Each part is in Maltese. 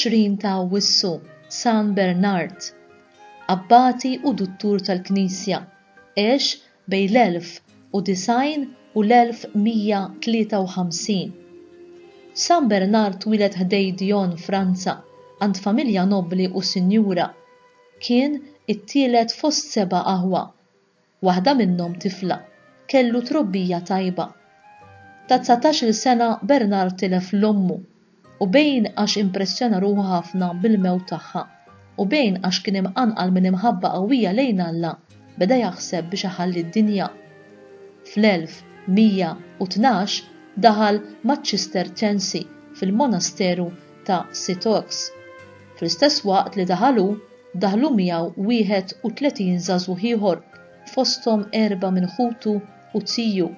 20 ta' Awwissu, San Bernard, abbati u duttur tal-Knisja, għex Bejn l-1090 u l-1153, San Bernard twieled ħdejn Dijon, Franza, għand familja nobbli u sinjura. Kien it-tielet fost seba' aħwa, waħda minnhom tifla. Kellu trobbija tajba. Ta' dsatax-il sena Bernard tilef 'l ommu. u bejn għax impressjona ruħu ħafna bil-mewt tagħha, u bejn għax kien imqanqal minn imħabba qawwija lejn Alla, beda jaħseb biex iħalli d-dinja. Fl-1112 daħal maċ-Ċisterċensi fil-monasteru ta' Citeaux. Fl-istess waqt li daħal hu, daħlu miegħu 31 żagħżugħ ieħor, fosthom erba' minn ħutu u ziju.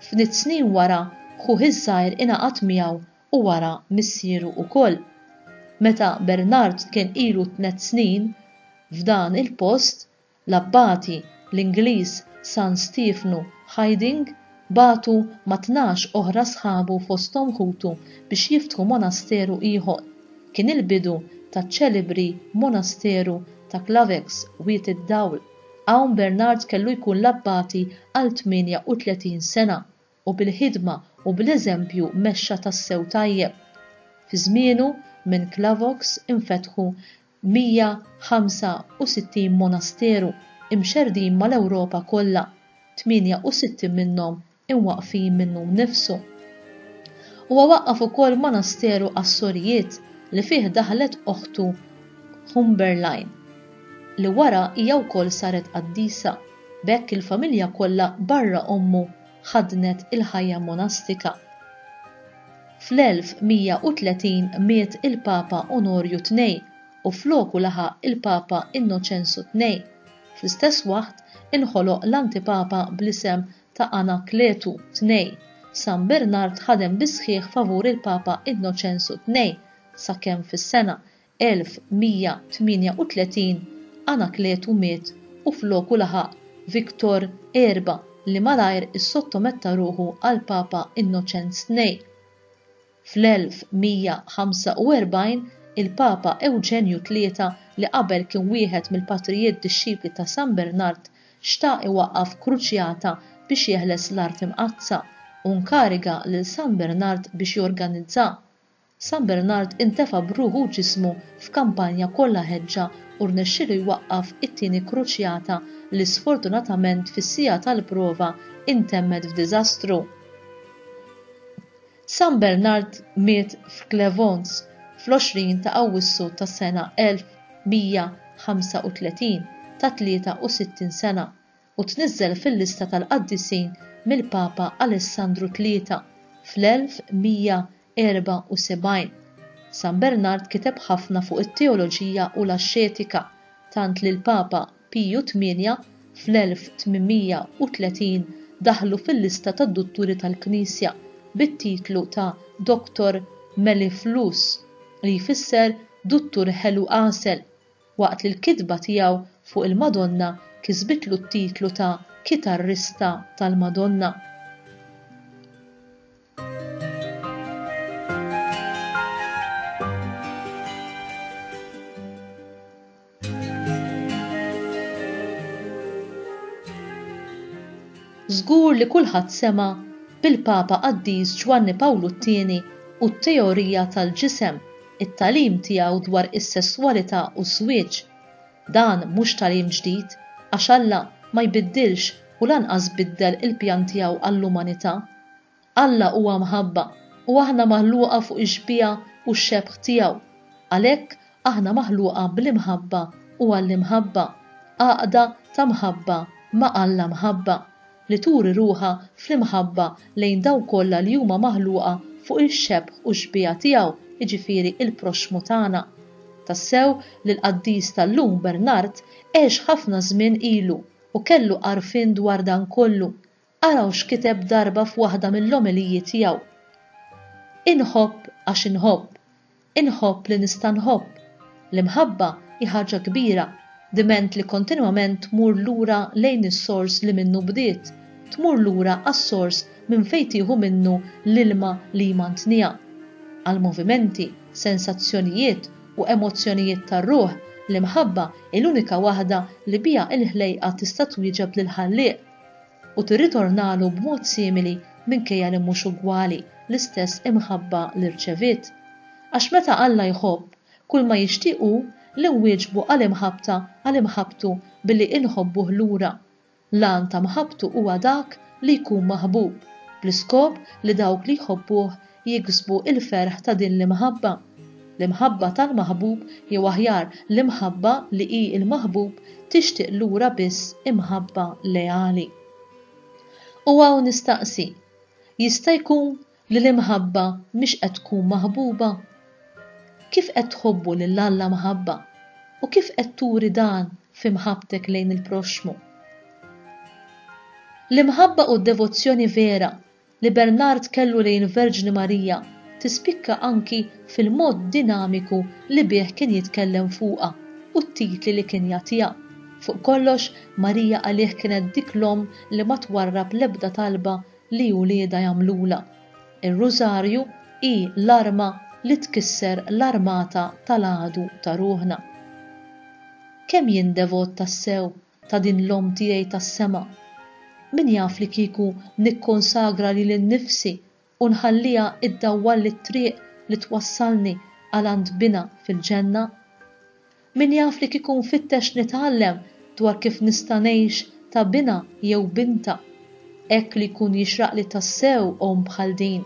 Ftit snin wara, ħuh iż-żgħir ingħaqad miegħu u wara missieru ukoll. Meta Bernard kien ilu tnett snin f'dan il-post, l-abbati, l-Ingliż San Stiefnu Hiding, bagħtu ma' tnax oħra sħabu fosthom ħutu biex jiftħu monasteru ieħor. Kien il-bidu taċ-ċelebri monasteru ta' Clavex, Wied id-Dawl. Hawn Bernard kellu jkun l-abbati għal 38 sena u bil-ħidma u bl-eżempju mexxa tassew tajjeb. Fi żmienu, minn Clavox infetħu 165 monasteru, imxerrdin mal-Ewropa kollha, 68 minnhom imwaqqfin minnu nnifsu. Huwa waqqaf ukoll monasteru għas-sorijiet li fih daħlet oħtu Humberline, li wara hija wkoll saret qaddisa, b'hekk il-familja kollha barra ommu ħaddnet il-ħajja monastika. Fl-1130 miet il-Papa Onorju Tnejn u floku laħaq il-Papa Innoċenzu Tnejn. Fl-istess waħt inħoloq l-Antipapa bl-isem ta' Anakletu ii, San Bernard ħadem bis-sħiħ favur il-Papa Innoċensu ii sakemm fis-sena 1138 Anakletu miet u floku laħaq Victor ii li malajr issottometta ruħu għall-Papa Innoċenz ii. Fl-1145, il-Papa Ewġenju Tlieta, li qabel kien wieħed mill-patrijiet dixxipli ta' San Bernard, xtaq iwaqqaf kruċjata biex jeħles l-Art Imqaddsa, u nkariga lil San Bernard biex jorganizzha. San Bernard intefa' b'ruħu u ġismu f'kampanja kollha ħeġġa u rnexxielu jwaqqaf it-tieni kruċjata li sfortunatament fis-siegħa tal-prova intemmet f'diżastru. San Bernard miet f'Clevons fl-20 ta' Awwissu tas-sena 1135 ta' 63 sena, u tniżżel fil-lista tal-qaddisin mill-Papa Alessandru Tlieta fl-1174. San Bernard kiteb ħafna fuq it-teoloġija u l-axxetika, tant li l-Papa, Piju tmienja fl-1830 daħħlu fil-lista tad-dutturi tal-Knisja bit-titlu ta' Doctor Mellifluus, li jfisser Duttur Ħelu Għasel, waqt li l-kitba tiegħu fuq il-Madonna kisbitlu t-titlu ta' Kitarrista tal-Madonna. Żgur li kulħadd sema' bil-Papa Qaddis Ġwanni Pawlu t-Tieni u t-teorija tal-ġisem, it-tagħlim tiegħu dwar is-sesswalità u ż-żwieġ. Dan mhux tagħlim ġdid, għax Alla ma jbiddilx u lanqas biddel il-pjan tiegħu għall-umanità. Alla huwa mħabba u aħna maħluqa fuq ix-xbieha u x-xebħ tiegħu. Għalhekk, aħna maħluqa bl-imħabba u għall-imħabba, għaqda ta' mħabba ma' Alla mħabba, li turi ruħha fl-imħabba lejn dawk kollha li huma maħluqa fuq ix-xebħ u x-xbieha tiegħu, jiġifieri l-proxxmu tagħna. Tassew li l-qaddis tal-lum Bernard għex ħafna żmien ilu u kellu għarfien dwar dan kollu, Araw x'kiteb darba f'waħda mill-omeliji tiegħu, Inħobb għax inħobb, inħobb li nista' nħobb. L-imħabba hi ħaġa kbira, diment li kontinwament tmur lura lejn is-sors li minnu bdiet, tmur lura għas-sors minn fejn tieħu minnu l-ilma li jmantniha. Għall-movimenti, sensazzjonijiet u emozzjonijiet tar-ruħ, l-imħabba hi l-unika waħda li biha l-ħlejqa tista' twieġeb lill-Ħallieq. u tirritornalu b'mod simili minkejja li mhux ugwali, l-istess imħabba li rċeviet. Għax meta Alla jħobb, kulma jixtieq hu li nwieġbu għal imħabbta għal imħabbtu billi inħobbuh lura. L-għan ta' mħabbtu huwa dak li jkun maħbub, bl-iskop li dawk li jħobbuh jiksbu l-ferħ ta' din l-imħabba, l-imħabba tal-maħbub jew aħjar l-imħabba li hi l-maħbub tixtieq lura biss imħabba leali. U hawn nistaqsi, jista' jkun li l-imħabba mhix qed tkun maħbuba? Kif qed tħobbu lil Alla mħabba u kif qed turi dan fi mħabbtek lejn il-proxxmu? L-imħabba u d-devozzjoni vera li Bernard kellu lejn il-Verġni Marija tispikka anki fil-mod dinamiku li bih kien jitkellem fuqha u t-titli li kien jagħtiha. Fuq kollox, Marija għalih kienet dik l-omm li ma twarrab l-ebda talba li uliedha jagħmlulha. Ir-Rużarju hi l-arma li tkisser l-armata tal-għadu ta' ruħna. Kemm jien devot tassew! ta' din l-Omm tiegħi tas-sema. Min jaf li kieku nikkonsagra lili nnifsi u nħalliha iddawwalli t-triq li twassalni għal għand Binha fil-Ġenna? Min jaf li kieku nfittex nitgħallem dwar kif nista' ngħix ta' Binha jew Bintha, hekk li jkun jixraqli tassew Omm bħal din?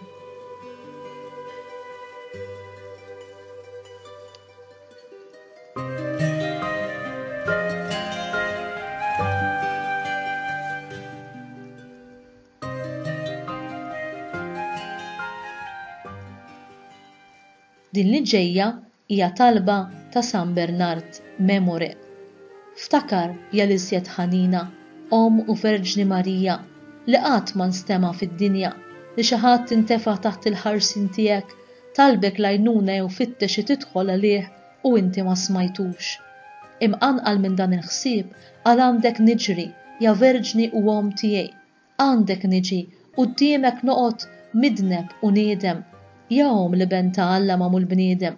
Din li ġejja hija talba ta' San Bernard Memore. Ftakar ja l-iżjed ħanina, Omm u Verġni Marija, li qatt ma nstema' fid-dinja li xi ħadd intefa' taħt il-ħarsien tiegħek Talbek l-għajnuna jew fittex xi tidħol għalih u inti ma smajtux. Imqanqal minn dan il-ħsieb qal għandek niġri, ja verġni u omm tiegħi, għandek niġi, quddiemek noqgħod midneb u niedem, ja omm l-Iben ta' Alla magħmul bniedem.